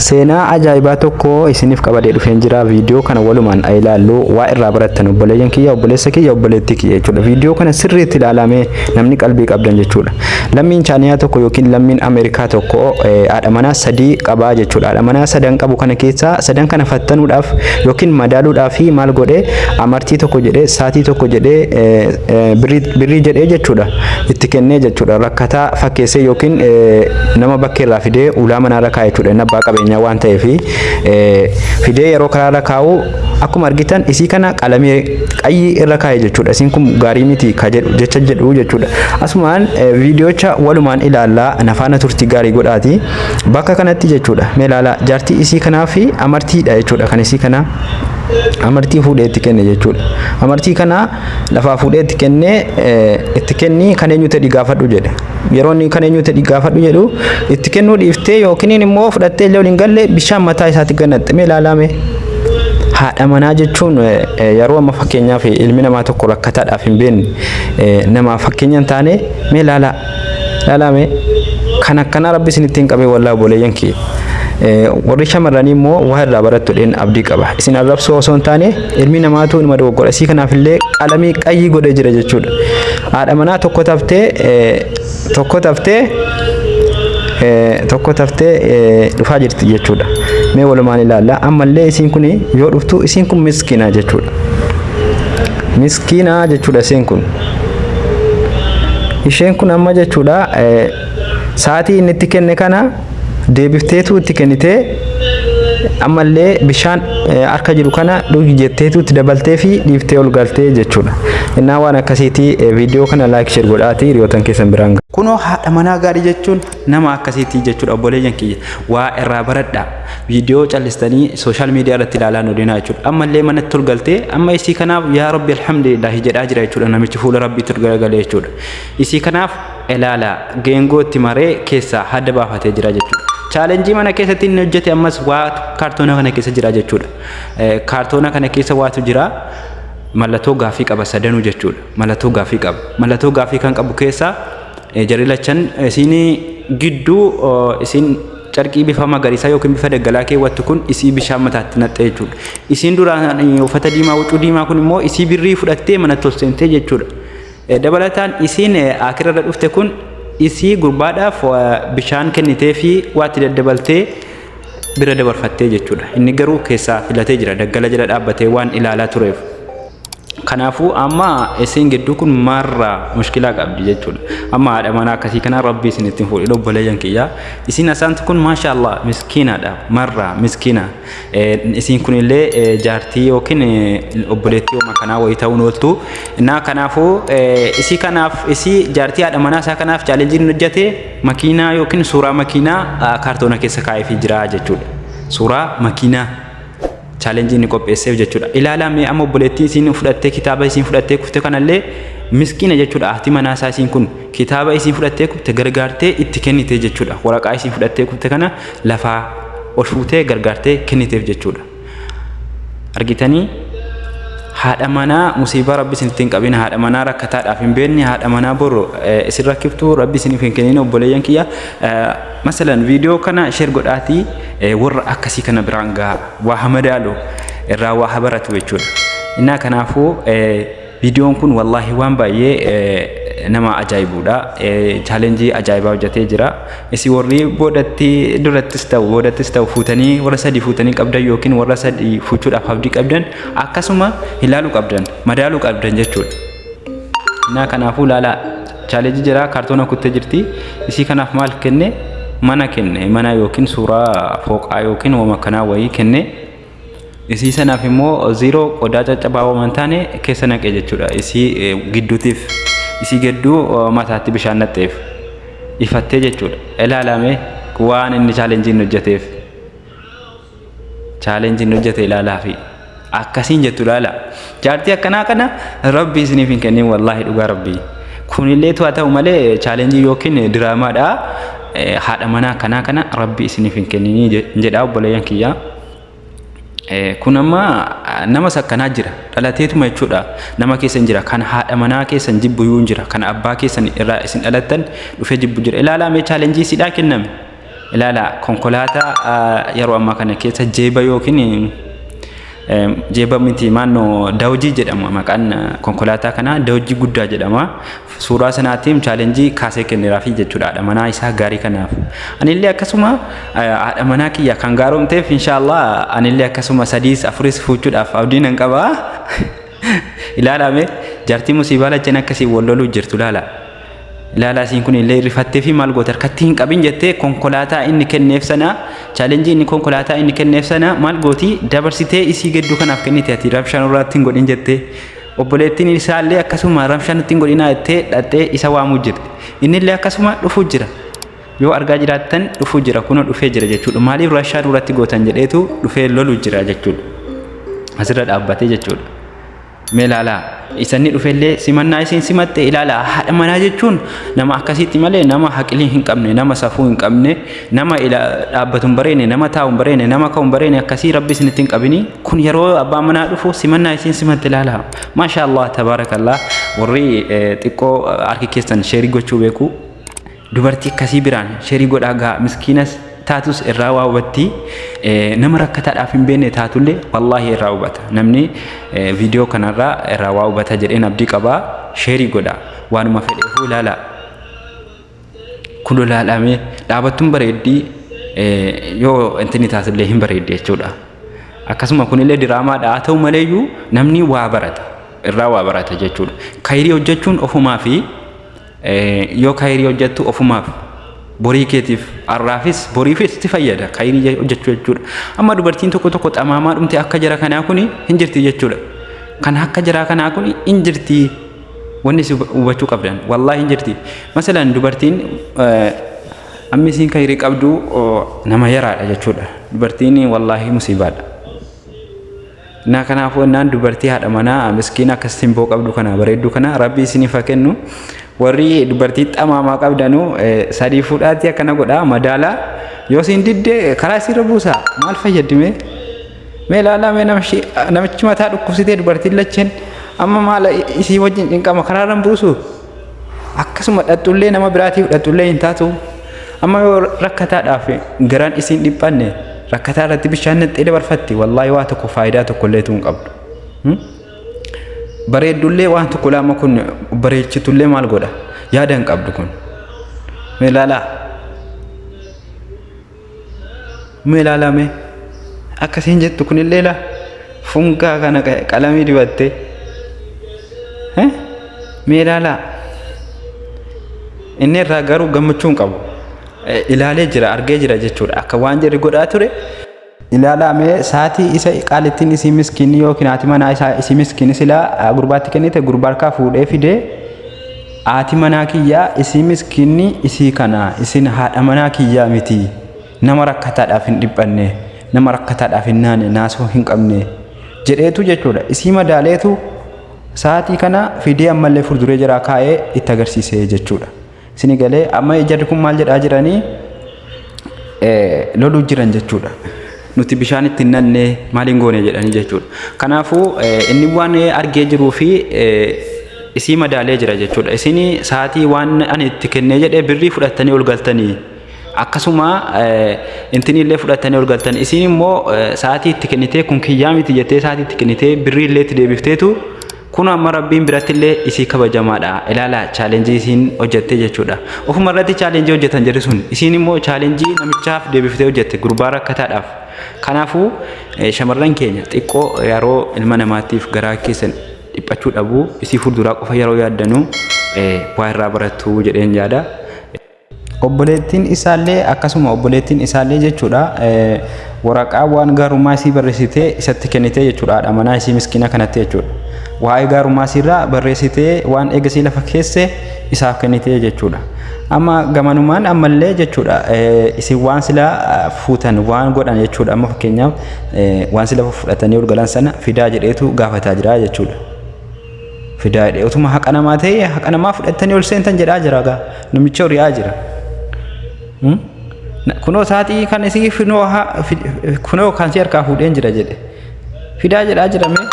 Seenaa ajaa'ibaa tokko isiniif qabadee dhufeen jira. Viidiyoo kana walumaan haa ilaallu. Waa irraa barattan obboleeyyan kiyya, obboleessa kiyya, obboleettii kiyya jechuudha. Viidiyoo kana sirriitti ilaalamee namni qalbii qabdan jechuudha. Lammiin Chaaniyaa tokko yookiin lammiin Ameerikaa tokko eh, haadha manaa sadii qabaa jechuudha. Haadha manaa sadan qabu kana keessaa sadan kana fattanuudhaaf yookiin madaaluudhaaf maal godhee amartii tokko jedhee saatii tokko jedhee eh, eh, birrii birrii jedhee jechuudha. itti kennee jechuudha rakkataa fakkeessee yookiin nama bakkee irraa fidee ulaa manaa irra kaa'e jechuudha inni abbaa qabeenyaa waan ta'eef fidee yeroo karaa irra kaa'u akkuma argitan isii kana qalamee qayyii irra kaa'e jechuudha isiin kun gaarii miti ka jedhu jecha jedhu jechuudha asumaan viidiyocha walumaan ilaallaa nafaana turtii gaarii godhaati bakka kanatti jechuudha mee ilaalaa jaartii isii kanaa fi amartiidha jechuudha kan isii kanaa amartii fuudhee itti kenne jechuudha. Amartii kana Lafaa fuudhee itti kennee itti kenni kan eenyu tedhi gaafadhu jedhe. Yeroo inni kan eenyu tedhi gaafadhu jedhu itti kennuu dhiiftee yookiin immoo fudhattee illee waliin galle bishaan mataa isaatti gannatte mee ilaalaame. Haadha manaa jechuun yeroo amma fakkeenyaaf ilmi namaa tokko rakkataadhaaf hin beekne namaaf fakkeenya hin taane mee ilaalaa. Lalame kan akkanaa rabbi isinitti hin qabee wallaa obboleeyyan kiyya. Warri shamarranii immoo waa irraa barattu dheen abdii qaba. Isin arrabsoo osoo hin taane ilmi namaatu inuma dogoggora. Isii kanaaf illee qalamii qayyii godhee jira jechuudha. Haadha manaa tokko taftee tokko taftee tokko taftee dhufaa jirti jechuudha. Mee walumaan ilaalla. Ammallee isiin kun yoo dhuftu isiin kun miskiina jechuudha. Miskiinaa jechuudha isheen kun. Isheen kun amma jechuudha sa'aatii inni itti kenne kana deebifteetu itti kennitee ammallee bishaan harka jiru kana dhugi jetteetu itti dabaltee fi dhiiftee ol galtee jechuudha. Innaa waan akkasiitii viidiyoo kana laayik sheer godhaatii hiriyootan keessan biraan Kunoo haadha manaa gaarii jechuun Nama akkasiitii jechuudha obboleeyyan kiyya waa irraa baradhaa viidiyoo callistanii sooshaal miidiyaa irratti ilaalaa nu deemaa jechuudha amma illee manatti ol galtee amma isii kanaaf yaa rabbi alhamdulillaahi jedhaa jira jechuudha namichi fuula rabbiitti ol garagalee jechuudha isii kanaaf ilaalaa geengoo itti maree keessaa hadda baafatee jira jechuudha. Chaalenjii mana keessatti inni hojjete ammas waa kaartoona kana keessa jira jechuudha. Kaartoona kana keessa waatu jira. Mallattoo gaaffii qaba sadanuu jechuudha. Mallattoo gaaffii qaba. Mallattoo gaaffii kan qabu keessaa Jarri lachan isiin gidduu isiin carqii bifa magariisaa yookiin bifa daggalaa keewwattu kun isii bishaan mataatti naqxe jechuudha. Isiin duraan uffata diimaa huccuu diimaa kun immoo isii birrii fudhattee manatti ol seentee jechuudha. Dabalataan isiin akira irra dhufte kun isii gurbaadhaaf bishaan kennitee fi waatti daddabaltee bira dabarfattee jechuudha. Inni garuu keessaa filatee jira daggala jala dhaabbatee waan ilaalaa tureef. Kanaafuu amma isiin gidduu kun maarraa mushkilaa qabdi jechuudha. Amma haadha manaa akkasii kanaa rabbi isin ittiin fuudhe lobboleeyyan kiyyaa. Isiin asaantu kun maashaallah miskiinaadha marraa miskiina. Isiin kunillee jaartii yookiin obboleettii homaa kanaa wayii ta'uun ooltu. Naa kanaafuu isii kanaaf isii jaartii haadha manaa isaa kanaaf chaalenjiin hojjate makiinaa yookiin suuraa makiinaa kaartoona keessa kaa'eefii jira jechuudha. Suuraa makiinaa. challenge inni qopheesseef jechuudha. Ilaalaa mee amma obboleettiin isiin fudhattee kitaaba isiin fudhattee kufte kanallee miskiina jechuudha. Haati manaa isaa isiin kun kitaaba isiin fudhattee kufte gargaartee itti kennite jechuudha. Waraqaa isiin fudhattee kufte kana lafaa ol fuutee gargaartee kenniteef jechuudha. Argitanii haadha manaa musiibaa rabbi isinitti hin qabin haadha manaa rakkataadhaaf hin beekne haadha manaa boru isin rakkiftu rabbi isiniif hin kennin obboleeyyan kiyya. Masalan video kana share godhaati warra akkasii kana biraan gaha waa ha madaalu irraa waa ha baratu jechuudha. Innaa kanaafuu videon kun wallaahi waan baay'ee nama ajaa'ibuudha. Chaalenjii ajaa'ibaa hojjetee jira. Isi warri boodatti durattis ta'u boodattis ta'u fuutanii warra sadii fuutanii qabdan yookiin warra sadii fuuchuudhaaf abdii qabdan akkasuma ilaaluu qabdan madaaluu qabdan jechuudha. Naa kanaafuu laalaa chaalenjii jiraa kaartoona kuttee jirti isii kanaaf maal kenne mana kenne mana yookiin suuraa fooqaa yookiin wama kanaa wayii kenne isii sanaaf immoo ziiroo qodaa caccabaa waman taane keessa naqee jechuudha isii gidduutiif isii gidduu mataatti bishaan naqxeef ifattee jechuudha ilaalame waan inni chaalenjiin hojjeteef. challenge inni hojjete ilaalaa fi akkasiin jettu ilaala jaartii akkanaa kana rabbi isiniif hin kennin wallaahi dhugaa rabbi kunillee tu haa ta'u malee challenge yookiin diraamaadha haadha manaa akkanaa kana rabbi isiniif hin kenninii jedhaa obboleeyyan kiyyaa kun amma nama sakkanaa jira dhalateetuma jechuudha nama keessa hin jira kan haadha manaa keessa hin jibbu hin jira kan abbaa keessa irraa isin dhalattan dhufee jibbu jira ilaalaa mee challenge sidhaa kenname ilaala konkolaataa yeroo ammaa kana keessa jeeba yookiin jeeba miti maannoo daawjii jedhama maqaan konkolaataa kanaa daawjii guddaa jedhama suuraa sanaatiin chaalenjii kaasee kenneeraafii jechuudha haadha manaa isaa gaarii kanaaf anillee akkasuma haadha manaa kiyya kan gaaromteef inshaallah anillee akkasuma sadiis afuris fuuchuudhaaf abdiin nan qaba ilaalame jartii musiibaa lacheen akkasii wal loluu jirtu laala Ilaalaa isiin kun illee rifattee fi maal goote harkatti hin qabin jettee konkolaataa inni kenneef sana chaalenjii inni konkolaataa inni kenneef sana maal gooti dabarsitee isii gedduu kanaaf kennite ati rabshaan irraatti hin godhin jettee obboleettiin isaa illee akkasuma rabshaan itti hin godhinaa jettee dhaxxee isa waamuu jirti inni illee akkasuma dhufuu jira yoo argaa jiraattan dhufuu jira kunoo dhufee jira jechuudha maaliif rabshaan irratti gootan jedheetu dhufee lolu jira jechuudha asirra dhaabbatee jechuudha. Mee ilaalaa isanni dhufellee simannaa isiin simatte ilaalaa haadha manaa jechuun nama akkasiitti malee nama haqilii hin qabne nama safuu hin qabne nama dhaabbatu hin bareene nama taa'u hin bareene nama ka'u hin bareene akkasii rabbi isinitti hin qabini kun yeroo abbaa manaa dhufu simannaa isiin simatte ilaalaa maashaa allah tabaarakallah warri xiqqoo harki keessan sheerii gochuu beeku Dubartii akkasii biraan sherii godhaa gaa miskiinas taatus irraa waa hubattii nama rakkataadhaaf hin beekne taatullee wallaahi irraa hubata namni viidiyoo kanarraa irraa waa hubata jedheen abdii qabaa sherii godhaa waanuma fedheefuu ilaalaa kulo laalamee dhaabattuun bareeddii yoo intini taasillee hin bareeddi jechuudha. Akkasuma kunillee diraamaadha haa ta'u maleeyyuu namni waa barata irraa waa barata jechuudha. Kayirii hojjechuun ofumaa fi Yoo kayrii hojjattu ofumaaf borii keetiif arraafis boriifis itti fayyada kayrii hojjachuu jechuudha. Amma dubartiin tokko tokko xamaamaa dhumte akka jara kanaa kuni hin jirti jechuudha. Kan akka jaraa kanaa kuni hin jirti wanni si hubachuu qabdan wallaahi hin jirti. Masalan dubartiin amma isiin kayrii qabdu nama yaraadha jechuudha. Dubartiin wallaahi musiibaadha. Naa kanaafuu ennaan dubartii haadha manaa miskiina akkas simboo qabdu kana bareedduu kana rabbi isiniif haa kennu. Warri dubartii xamaamaa qabdanu sadii fuudhaatii akkana godhaa madaalaa yoo siin didde karaa isiirra buusaa maal fayyadime? Mee ilaalaa mee namichi namichi mataa dhukkubsitee dubartiin lacheen amma maala isii wajjin cinqama karaarran buusu akkasuma dhaxxullee nama biraatiif dhaxxullee hin taatu amma yoo rakkataadhaaf garaan isiin dhiphanne rakkataa irratti bishaan naqxee dabarfatti wallaahi waa tokko faayidaa tokko illee tuun qabdu bareeddullee waan tokko laama kun bareechitullee maal godha yaada hin qabdu kun meelaalaa Mee ilaalaa mee akka isiin jettu kunillee laa funkaa kana qalamii dibattee mee ilaalaa inni irraa garuu gammachuu hin qabu ilaalee jira argee jira jechuudha akka waan jedhu godhaa ture ilaalaa mee saatii isa qaalittiin isii miskiinni yookiin haati manaa isaa isii miskiinni silaa gurbaatti kennite gurbaa harkaa fuudhee fidee Aati manaa kiyyaa isii miskiinni isii kanaa isin haadha manaa kiyyaa mitii nama rakkataadhaaf hin dhiphanne nama rakkataadhaaf hin naane naasuu hin qabne jedheetu jechuudha isii madaaleetu sa'aatii kana fidee ammallee furduree jiraa kaa'ee itti agarsiisee jechuudha. Sini galee amma jarri kun maal jedhaa jiranii loluu jiran jechuudha. Nuti bishaan itti hin nanne maaliin goone jedhanii jechuudha. Kanaafuu inni waan argee jiruu fi isii madaalee jira jechuudha. Isin sa'aatii waan ani itti kennee jedhee birrii fudhattanii ol galtanii akkasuma intini illee fudhattanii ol galtan isin immoo sa'aatii itti kennitee kun kiyyaa miti jettee sa'aatii itti kennitee birrii illee itti deebifteetu Kun amma rabbiin birattillee isii kabajamaadha. Ilaala chaalenjii isiin hojjattee jechuudha. Ofuma irratti chaalenjii hojjatan jedhu sun. Isiin immoo chaalenjii namichaaf deebiftee hojjatte gurbaa rakkataadhaaf. Kanaafuu shamarran keenya xiqqoo yeroo ilma namaatiif garaa keessan dhiphachuu dhabu isii fuulduraa qofa yeroo yaaddanu waa irraa barattu jedheen yaada. Obboleettiin isaallee akkasuma obboleettiin isaallee jechuudha waraqaa waan gaarummaa isii barreessitee isatti kennitee jechuudha haadha manaa isii miskiina kanatti jechuudha. Waa'ee gaarummaa isiirraa barreessitee waan eegasii lafa keesse isaaf kennitee jechuudha. Amma gamanumaan ammallee jechuudha isin waan sila fuutan waan godhan jechuudha amma fakkeenyaaf waan sila fudhatanii ol galan sana fidaa jedheetu gaafataa jira jechuudha. fidaa jedhe otuma haqa namaa ta'e haqa namaa fudhattanii ol seentan jedhaa jira gaa namicha hori'aa jira. Hmm? Na- Kunoo saaxii kan isii finoo haa- fi- kunoo kan si harkaa fuudheen jira jedhe fidaa jedhaa jira mee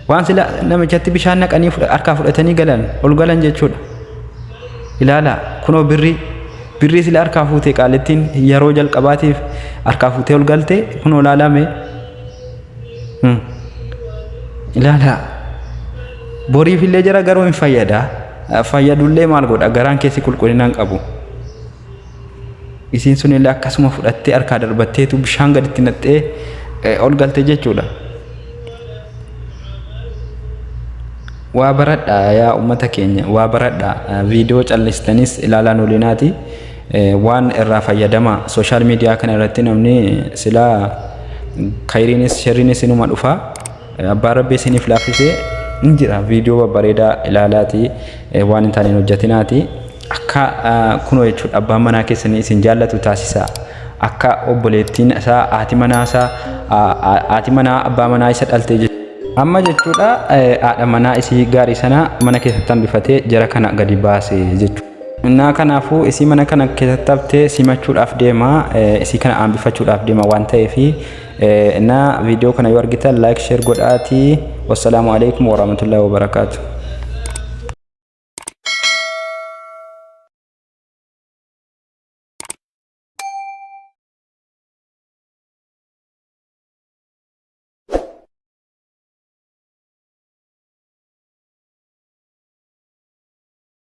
waan sila namichatti bishaan naqanii fudha- harkaa fudhatanii galan ol galan jechuudha. Ilaala kunoo birrii birrii sila harkaa fuutee qaalittiin yeroo jalqabaatiif harkaa fuutee ol galte kunoo ilaalaa mee ilaala boriif illee jira garuu hin fayyada fayyadullee maal godha garaan keessi qulqullina hin qabu isiin sun illee akkasuma fudhattee harkaa darbatteetu bishaan gaditti naqxee ol galte jechuudha waa baradha yaa ummata keenya waa baradha viidiyoo callistanis ilaalaa nuulinaati Waan irraa fayyadamaa. Sooshaal miidiyaa kana irratti namni silaa kayriinis sherriinis inuma dhufa. Abbaan Rabbi isiniif laaffisee hin jira. Viidiyoo babbareedaa ilaalaati waan hin taane hin hojjetinaati. Akka kunoo jechuudha abbaan manaa keessanii isin jaallatu taasisaa. Akka obboleettiin isaa haati manaa isaa haati manaa abbaa manaa isa dhaltee jechuudha. Amma jechuudha haadha manaa isii gaarii sana mana keessatti hambifatee jara kana gadi baase jechuudha. Innaa kanaafuu isii mana kana keessatti haftee simachuudhaaf deema isii kana aanbifachuudhaaf deema waan ta'eef innaa viidiyoo kana yoo argitan laayik sheer godhaatii wassalaamu alaikum warahmatullahi wabarakaatu.